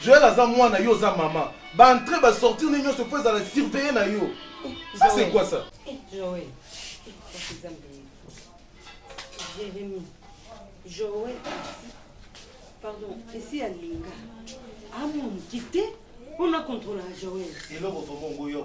Joël aza mwana yo oza maman ba entre ba sortir ne nionso faut ezala surveiller na yo ça c'est quoi ça Joël Jérémie Joël pardon esi alinga amoni kite on a contrôle Joël eloko vraiment ngoyo ya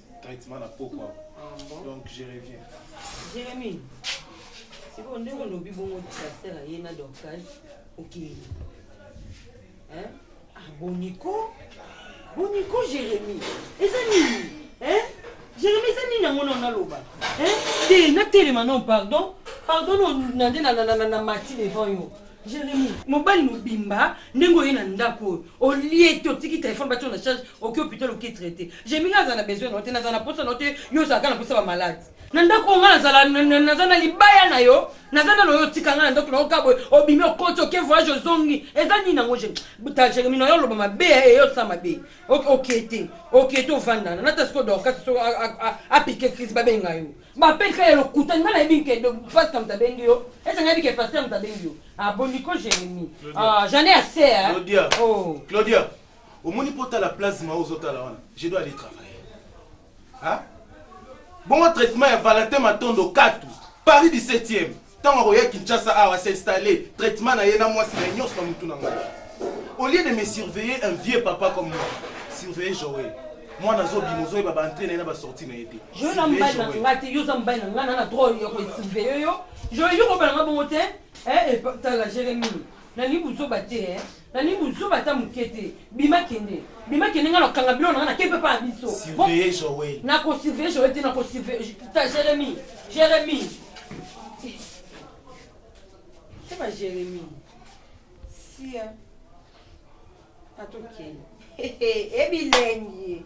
traitement na pokwa ah donc je reviens jérémie sikoyo ndenge olobi bongo disaster aye na dorcas okei hein ah boniko boniko jérémie eza nini hein jérémie eza nini yango na naloba hein te natelema non pardon pardon na nde na mati devant yo Jeremy, mobali mobimba ndenge oye na ndako oyo olie te otiki telefone batio na charge oke hôpital oke traite Jeremy nga azala na besoin na yo te nazala na posa na yo te yo ozalaka na posa ba malade na ndako oyo nga nazala na- na- naza na libaya na yo naza nano yo otika nga na ndako na yo kaka boye obimi okoti oke voyage ozongi eza nini yango Jeremy? ta Jeremy na yo oloba mabe ya eye osala mabe oke te oke te ovandana nata siko dorcas so a- a- a- apike crise babenga yo Ba pede kaka ya lokuta nga nayebi nke pasta mutu abengi yo ese nga yebi ke pasteur mutu abengi yo ah bon nico jeremie ah j'en ai assez hein Claudia oh Claudia omoni po tala plasma ozo tala wana je dois aller travailler ah bongo traitement ya Valentin Matondo katu Paris 17e Tango akoya Kinshasa awa s'installer, traitement na ye na muasi na ye nionso na mutu na ngai. Au lieu de me surveiller un vieux papa comme moi, surveiller Joël. Mwana azo bima ozo yeba ba entree na ye na ba sortie na ye te. Joël aza mobali na ngai te, yo oza mobali na ngai naza na droit ya ko surveiller yo. Joël yo kobala ngai bongo te eh tala Jeremie. Nalingi buzoba te eh. Nalingi buzoba ata muke te. Bima kende. Bima kende nga na kanga biloko na nga na keyi papa na biso. Surveiller Joël. Na ko surveiller Joël te na ko surveiller ta Jérémie. Jérémie. C'est pas Jérémie. Sia. Ato kende. Ebilengi.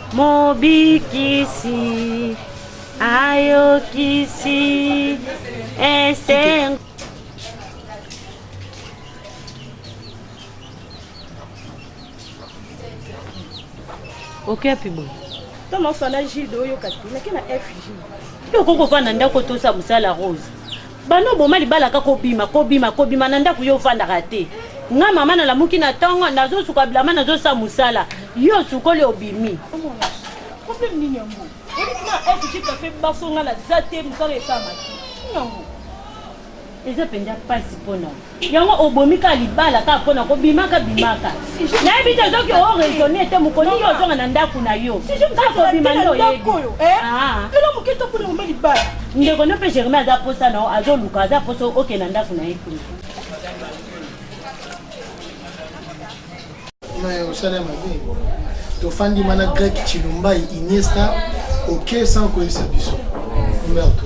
Mobikisi ayokisi esengo. oke api boye ntango afanda jilde oyoka te nake na fj yo okoki kofanda ndako tosa mosala rose Banda oboma libala kaka obima kobima kobima na ndaku yo ofandaka te nga mama na lamuki na tongo nazo suka bilamba nazo sa musala yo osukoli obimi problème nini yango oyebi na fg cafe baso nga naza te musala esalama te nini yango eza mpenza mpasi mpo na Yango obomi kaka libala kaka pona ko bimaka bimaka nayebi te soki o raisonne te mokolo nini ozonga na ndaku na yo kaka kobima nde oyebi aah ndeko no pe Germain aza posa na yo azoluka aza posa oke na ndaku na ye kuna mais osala ya mabe tofandi mana grec chilumbai iniesta oke sans koyebisa biso merto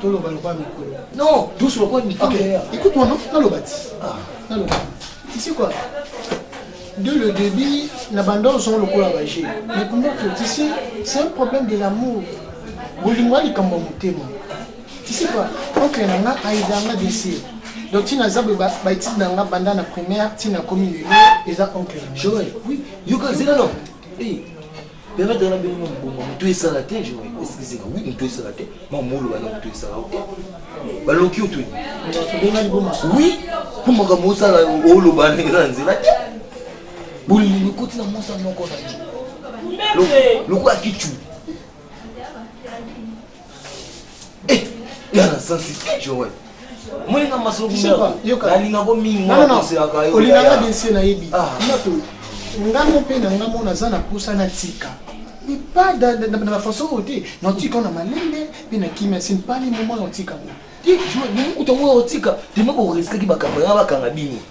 toloba lokola mikolo non douce lokola mikolo okay. écoute moi naloba ti ah. naloba tu sais quoi de le début na banda ozongo lokola baje mais kumba tu sais c'est un problème de l'amour bolingo ya likambo ya motema tu sais quoi oncle na nga aida nga desir donc ntina aza boye baetide na nga banda na primaire ntina akomi lelo eza oncle joel oui yoka zela no permettre na bino mbongo moto esala te je esalisaka wi moto esala te mamoloba na moto esala te baloki oto wi mpo makambo osala oloba ndenge na nzela te bolingi ekoti na mwasa moko na ye lokola kicu Eh, yana sansi Joël. Moi na masolo nalinga ko mingi mwa koselaka yo. Olingaka bien se nayebi. Ah. Moto ngambo mpe na ngambo naza na posa na tika mais pas dans la façon oyo te naotika na malembe mpe na kimia se mpali momo naotika ngo te jour mokuta ngo otika teme koresitaki bakanga bakanga bino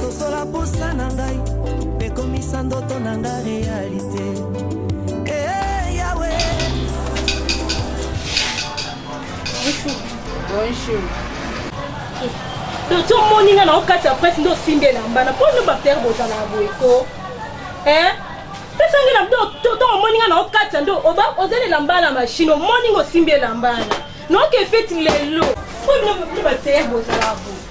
sosola posa na ngai mpe komisa ndoto na nga realite eh, yawe bonjour bonjour eh, doto omoni nga na okati ya presse nde osimbi elamba na mpo nde bapere bozalaka boye ko eh? pesangi na toto omoni nga na okati ya ndo ozali elamba na mashine omoni nga osimbi elamba na naoke feti lelo mpo bino bapere bozalaka boye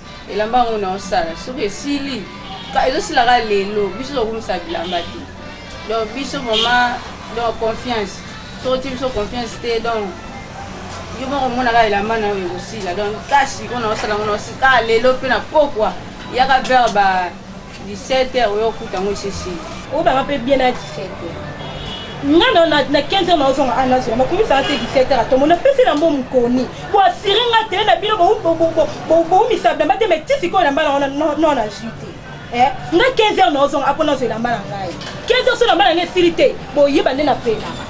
elamba yango na osala soki esili ezosila kaka lelo biso tokumisa bilamba te donc biso vraiment donc confiance soki otie biso confiance te donc yo moko omona kaka elamba na oyo ekosila donc kasi oyo na osala yango na osila kaka lelo mpe na pokwa yaka vers ba 17 heures oyo okuta yango esi esili obaka mpe bien na 17 heures nga na, na, na 15 heures naozonga a nazonga bakomisaka te 17 heures atomo napesi na mbo mokoni boasire nga te na bino boumisa bilamba te mai ti sikoyo elamba na wana no na jus te eh, nga 15 heures naozonga apo nazwa elamba na ngai 15 heures so elamba na ngai esili te boyeba nde na pelaka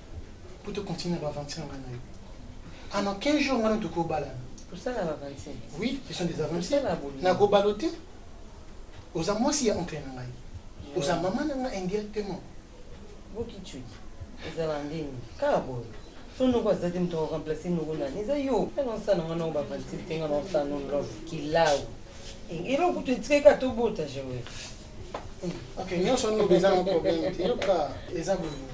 po to continuer na ba aventure nga na yo en aucun jour nga na yo tokobalana tosala ba aventure oui ce sont des aventures nakobala yo te oza mwasi ya oncle na ngai oza mama na ngai indirectement bokichwi ezala ndenge kaka boye so noko aza te moto akoremplace noko nani eza yo naosana nga nao bavantir te nga naosana love kilau eloko kutu etikaki ka tobota jewe ok nyonso wana eza na problème te yoka eza bolingo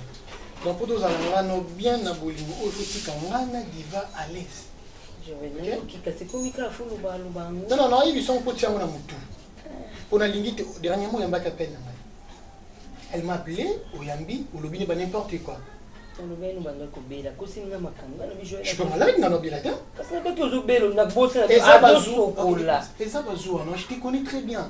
donc mpo tozala nga no bien na bolingo oyo totika nga na diva à l'aise non non nayebi songo mpo tia yango na motu mpo nalingi te dernièrement oyambaki appel na ngai elle m'a appelé oyambi olobi ne ba n'importe quoi olobeli banda kobela kosinga makambo nga lobi joel suis malade nga nobela te kasi na kati ozobela nabosa eza bazuwa eza bazuwa non je te connais très bien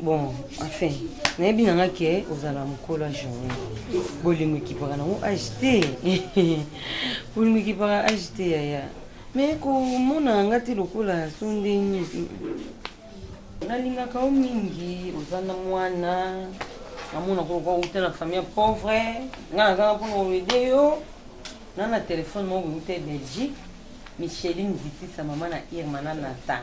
bon enfin nayebi na nga ke ozala mokolo ya journée bolingo ekipaka nango age te bolingo ekipaka age te yaya mais komona nga te lokola so ndenge nalingaka yo mingi oza na mwana namona koloka outa na famille pauvre nga nazanga mpona koede yo na na telefone moko outa belgique micheline vitisa mama na irma na nata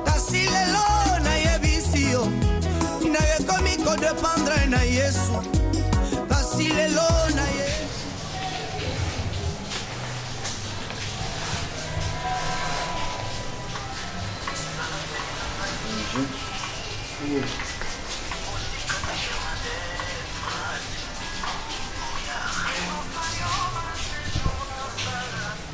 Kasi lelo nayebisi yo, nayo ekomi ko dependre na Yesu. Kasi lelo naye.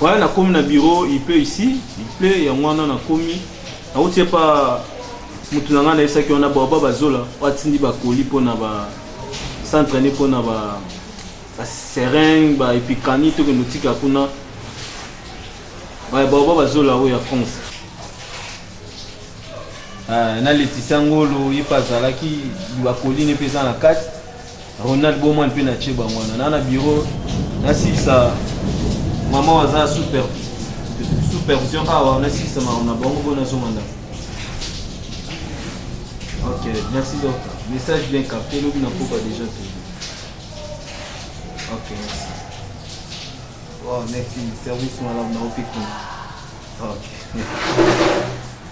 Voilà na komi na bureau il pleut ici il pleut ya mwana na komi na uti pa mutu na nga na esaki wana ba ba bazola wa tindi ba colis po na ba centre ni po na ba ba seringue ba epicani to kendo tika kuna ba ba ba bazola o ya France ah, na letisa ngolo ye pa zalaki ba colis ne pesa na kati Ronald Boma mpe na tye bango wana na na biro nasilisa mama waza super supervision awa nasilisa makambo na bango mpo nazonga ndako ok merci docteur message bien capté lobi na koba déjà te ok merci oh merci service malamu na opikuna ok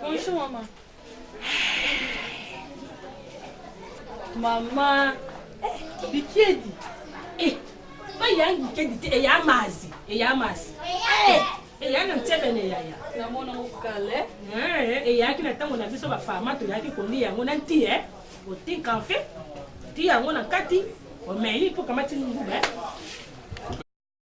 Bonjour maman. Maman. Eh, Bikiedi. Eh, ba yang bikiedi te ya mazi, ya mazi. Eh, eh ya na mtebe ne ya ya. Na mona okale. Eh, eh ya kina tango na biso ba fama to ya ki kondi yango na nti eh. Otinka en fait. Ti yango na kati. Omeli po kamati nguba. Eh.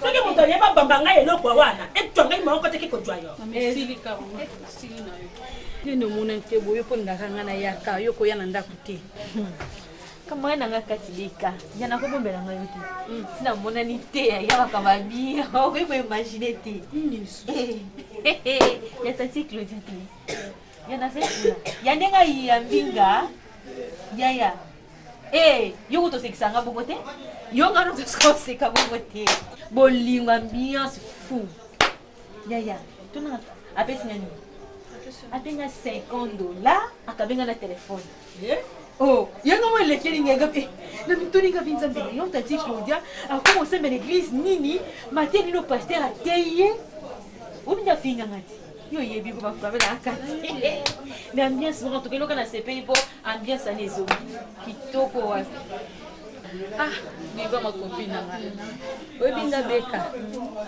soki moto alie babamba ngai eloko wana etwa ngai moko te ke kozwa yo nini omona te boye mpo ndaka ngai nayaka yo koya na ndako te kamwana na ngai kati leka ya nakobombela ngai yo te hmm. ntina monani te ya makambo ya bia okoki koimagine te hmm, eh, eh, eh, ya tati claudie te Ya na zali kuna. Ya ndenge ayi ya mbinga. Ya ya. Eh, yo ko tosekisa nga bongo te. Yo nga no tosika oseka bongo te. Bolingo ambiance fou. Ya ya. Tuna apesi nga nini? Atenga 50 dollars akabenga na telefone. Eh? Oh, yanga mwa elekeli ngai ngape eh, na mituni ngapi nzambe lelo tati claudia akoma osembela eglise nini mateya nino paster ateyi ye obinda afinganga te yo oyebi ko bafabe na kati me ambiance moko toke eloka na sepeli mpo ambiance ana ezongi kitoko wapi ah diva makopi na ngai oyebi nga beka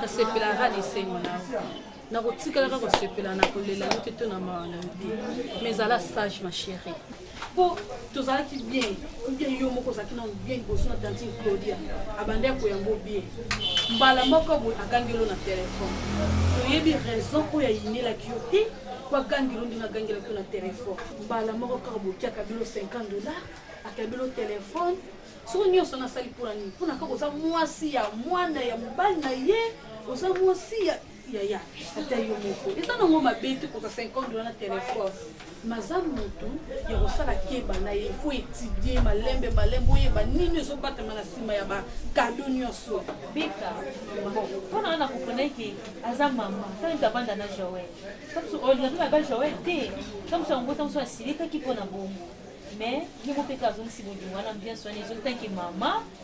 nasepelaka na esengo na nakotikalaka kosepela na kolela yo te to na mawa na yo te mais zala sage ma chérie mpo tozalaki bien obien yo moko ozalaki nano bien liboso na tantine claudia abandi akoyango bien mbala moko boye agangelo na telefone oyebi raison oyo ayinelaki yo te mpo agangelo ndenge agangelaki yo na telefone mbala moko kaka bokiaka bino 50 dollar ata bino telefone soki nyonso nasali mpona nini mpona kaka oza mwasi ya mwana ya mobali na ye oza mwasi ya yaya ata yo moko eza nango mabe te kozwa 50 dola na telefone maza motu ya kosala keba na ye fo etidie malembe malembe oyeba nini ezobatama na nsima ya bakado nyonso beka mpona wana koponaki aza mama ntango tabanda na joel ntango olingaki na ba joel te ntango mosu yango ntango mosu asilikaki mpo na bongo mais ye mopeka azongisi bolingo wana ambiance wana ezongi tanke mama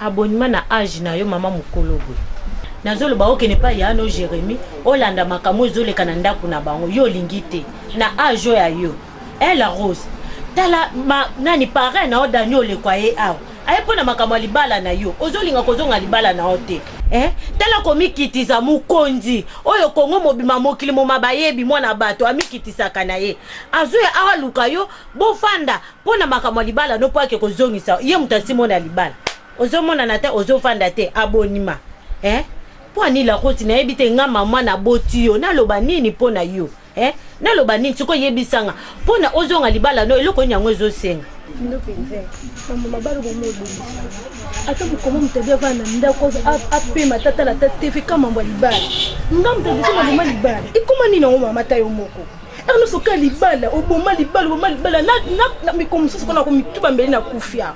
Abonima na age na yo maman mukolo boye nazo loba okende epai ya no Jeremie olanda makambo oyo ezoleka na ndaku na bango yo olingi te na age oyo ya yo eh la rose tala ma nani parrain na yo Dani oleko aye awa aye mpo na makambo ya libala na yo ozolinga kozonga libala na yo te eh tala komikitiza mokonzi oyo Congo mobima mokili moma bayebi mwana bato amikitisaka na ye azoya awa luka yo bofanda Pona makambo ya libala no po ake kozongisa ye moto asi mona libala ozomonana te ozofanda te abonima eh? po anila koti nayebi te nga mama naboti yo naloba nini mpo na yo eh? naloba nini sikoyo yebisanga mpo na ozonga libala no eloko nini yango ezosenga ndo mpenza mambo mabala bomobongisa ata mokoma moto abi avana na ndako apema ata tala ata tv ka mambo ya libala nga moto abiso maboma libala ekoma nini yango mama ta yo moko Ernest oka libala oboma libala oboma libala na na miko mosusu kona ko mituba mbele na kufia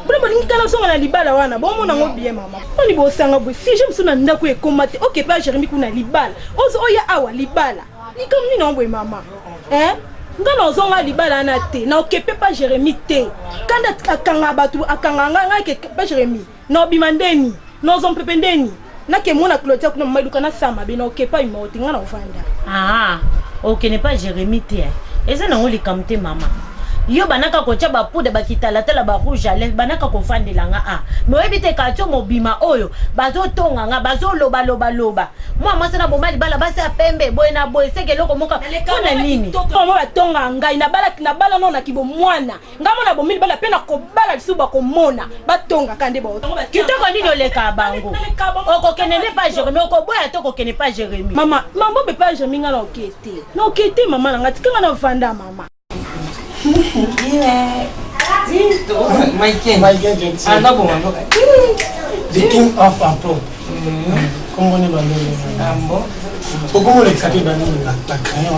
bino bolingi kana zonga na libala wana bomona yango bien mama oni bosanga boye sije mosusu na ndako ekoma te oke mpe jeremi kuna libala ozo oya awa libala likambo nini yango boye mama eh? nga na ozonga libala wana te na okepe pa jeremi te kanda akanga bato akanga nga nga ke pa jeremi No bima ndeni, no zo mpepe ndeni. Na ke mona Claudia kuna mama iluka na sa mabe na oke pa imo te nga na ovanda. Ah, oke ne pa Jeremy te. Eza na ngo likambo te mama. Yo banaka ko tia ba poudre ba kitala tala ba rouge à lèvres banaka ko vandela nga ah. Me oyebi te katio mobima oyo bazo tonga nga bazo loba loba loba. Mwa mwasa na bomali bala basi ya pembe boye na boye seke loko moka. Pona nini? Mama ba tonga ngai na bala na bala no na kibo mwana. nga mona bomili bana mpe nakobala lisusu bakomona batongaka nde kitoko nini oleka bango okokende nde pa jeremi okoboya te okokende pa jeremi mama mama mpe pa jeremi nga naoke te naoke te mama na nga tika nga navanda mama The king of Apo. Comment on est dans le Pourquoi on est capable de nous la crayon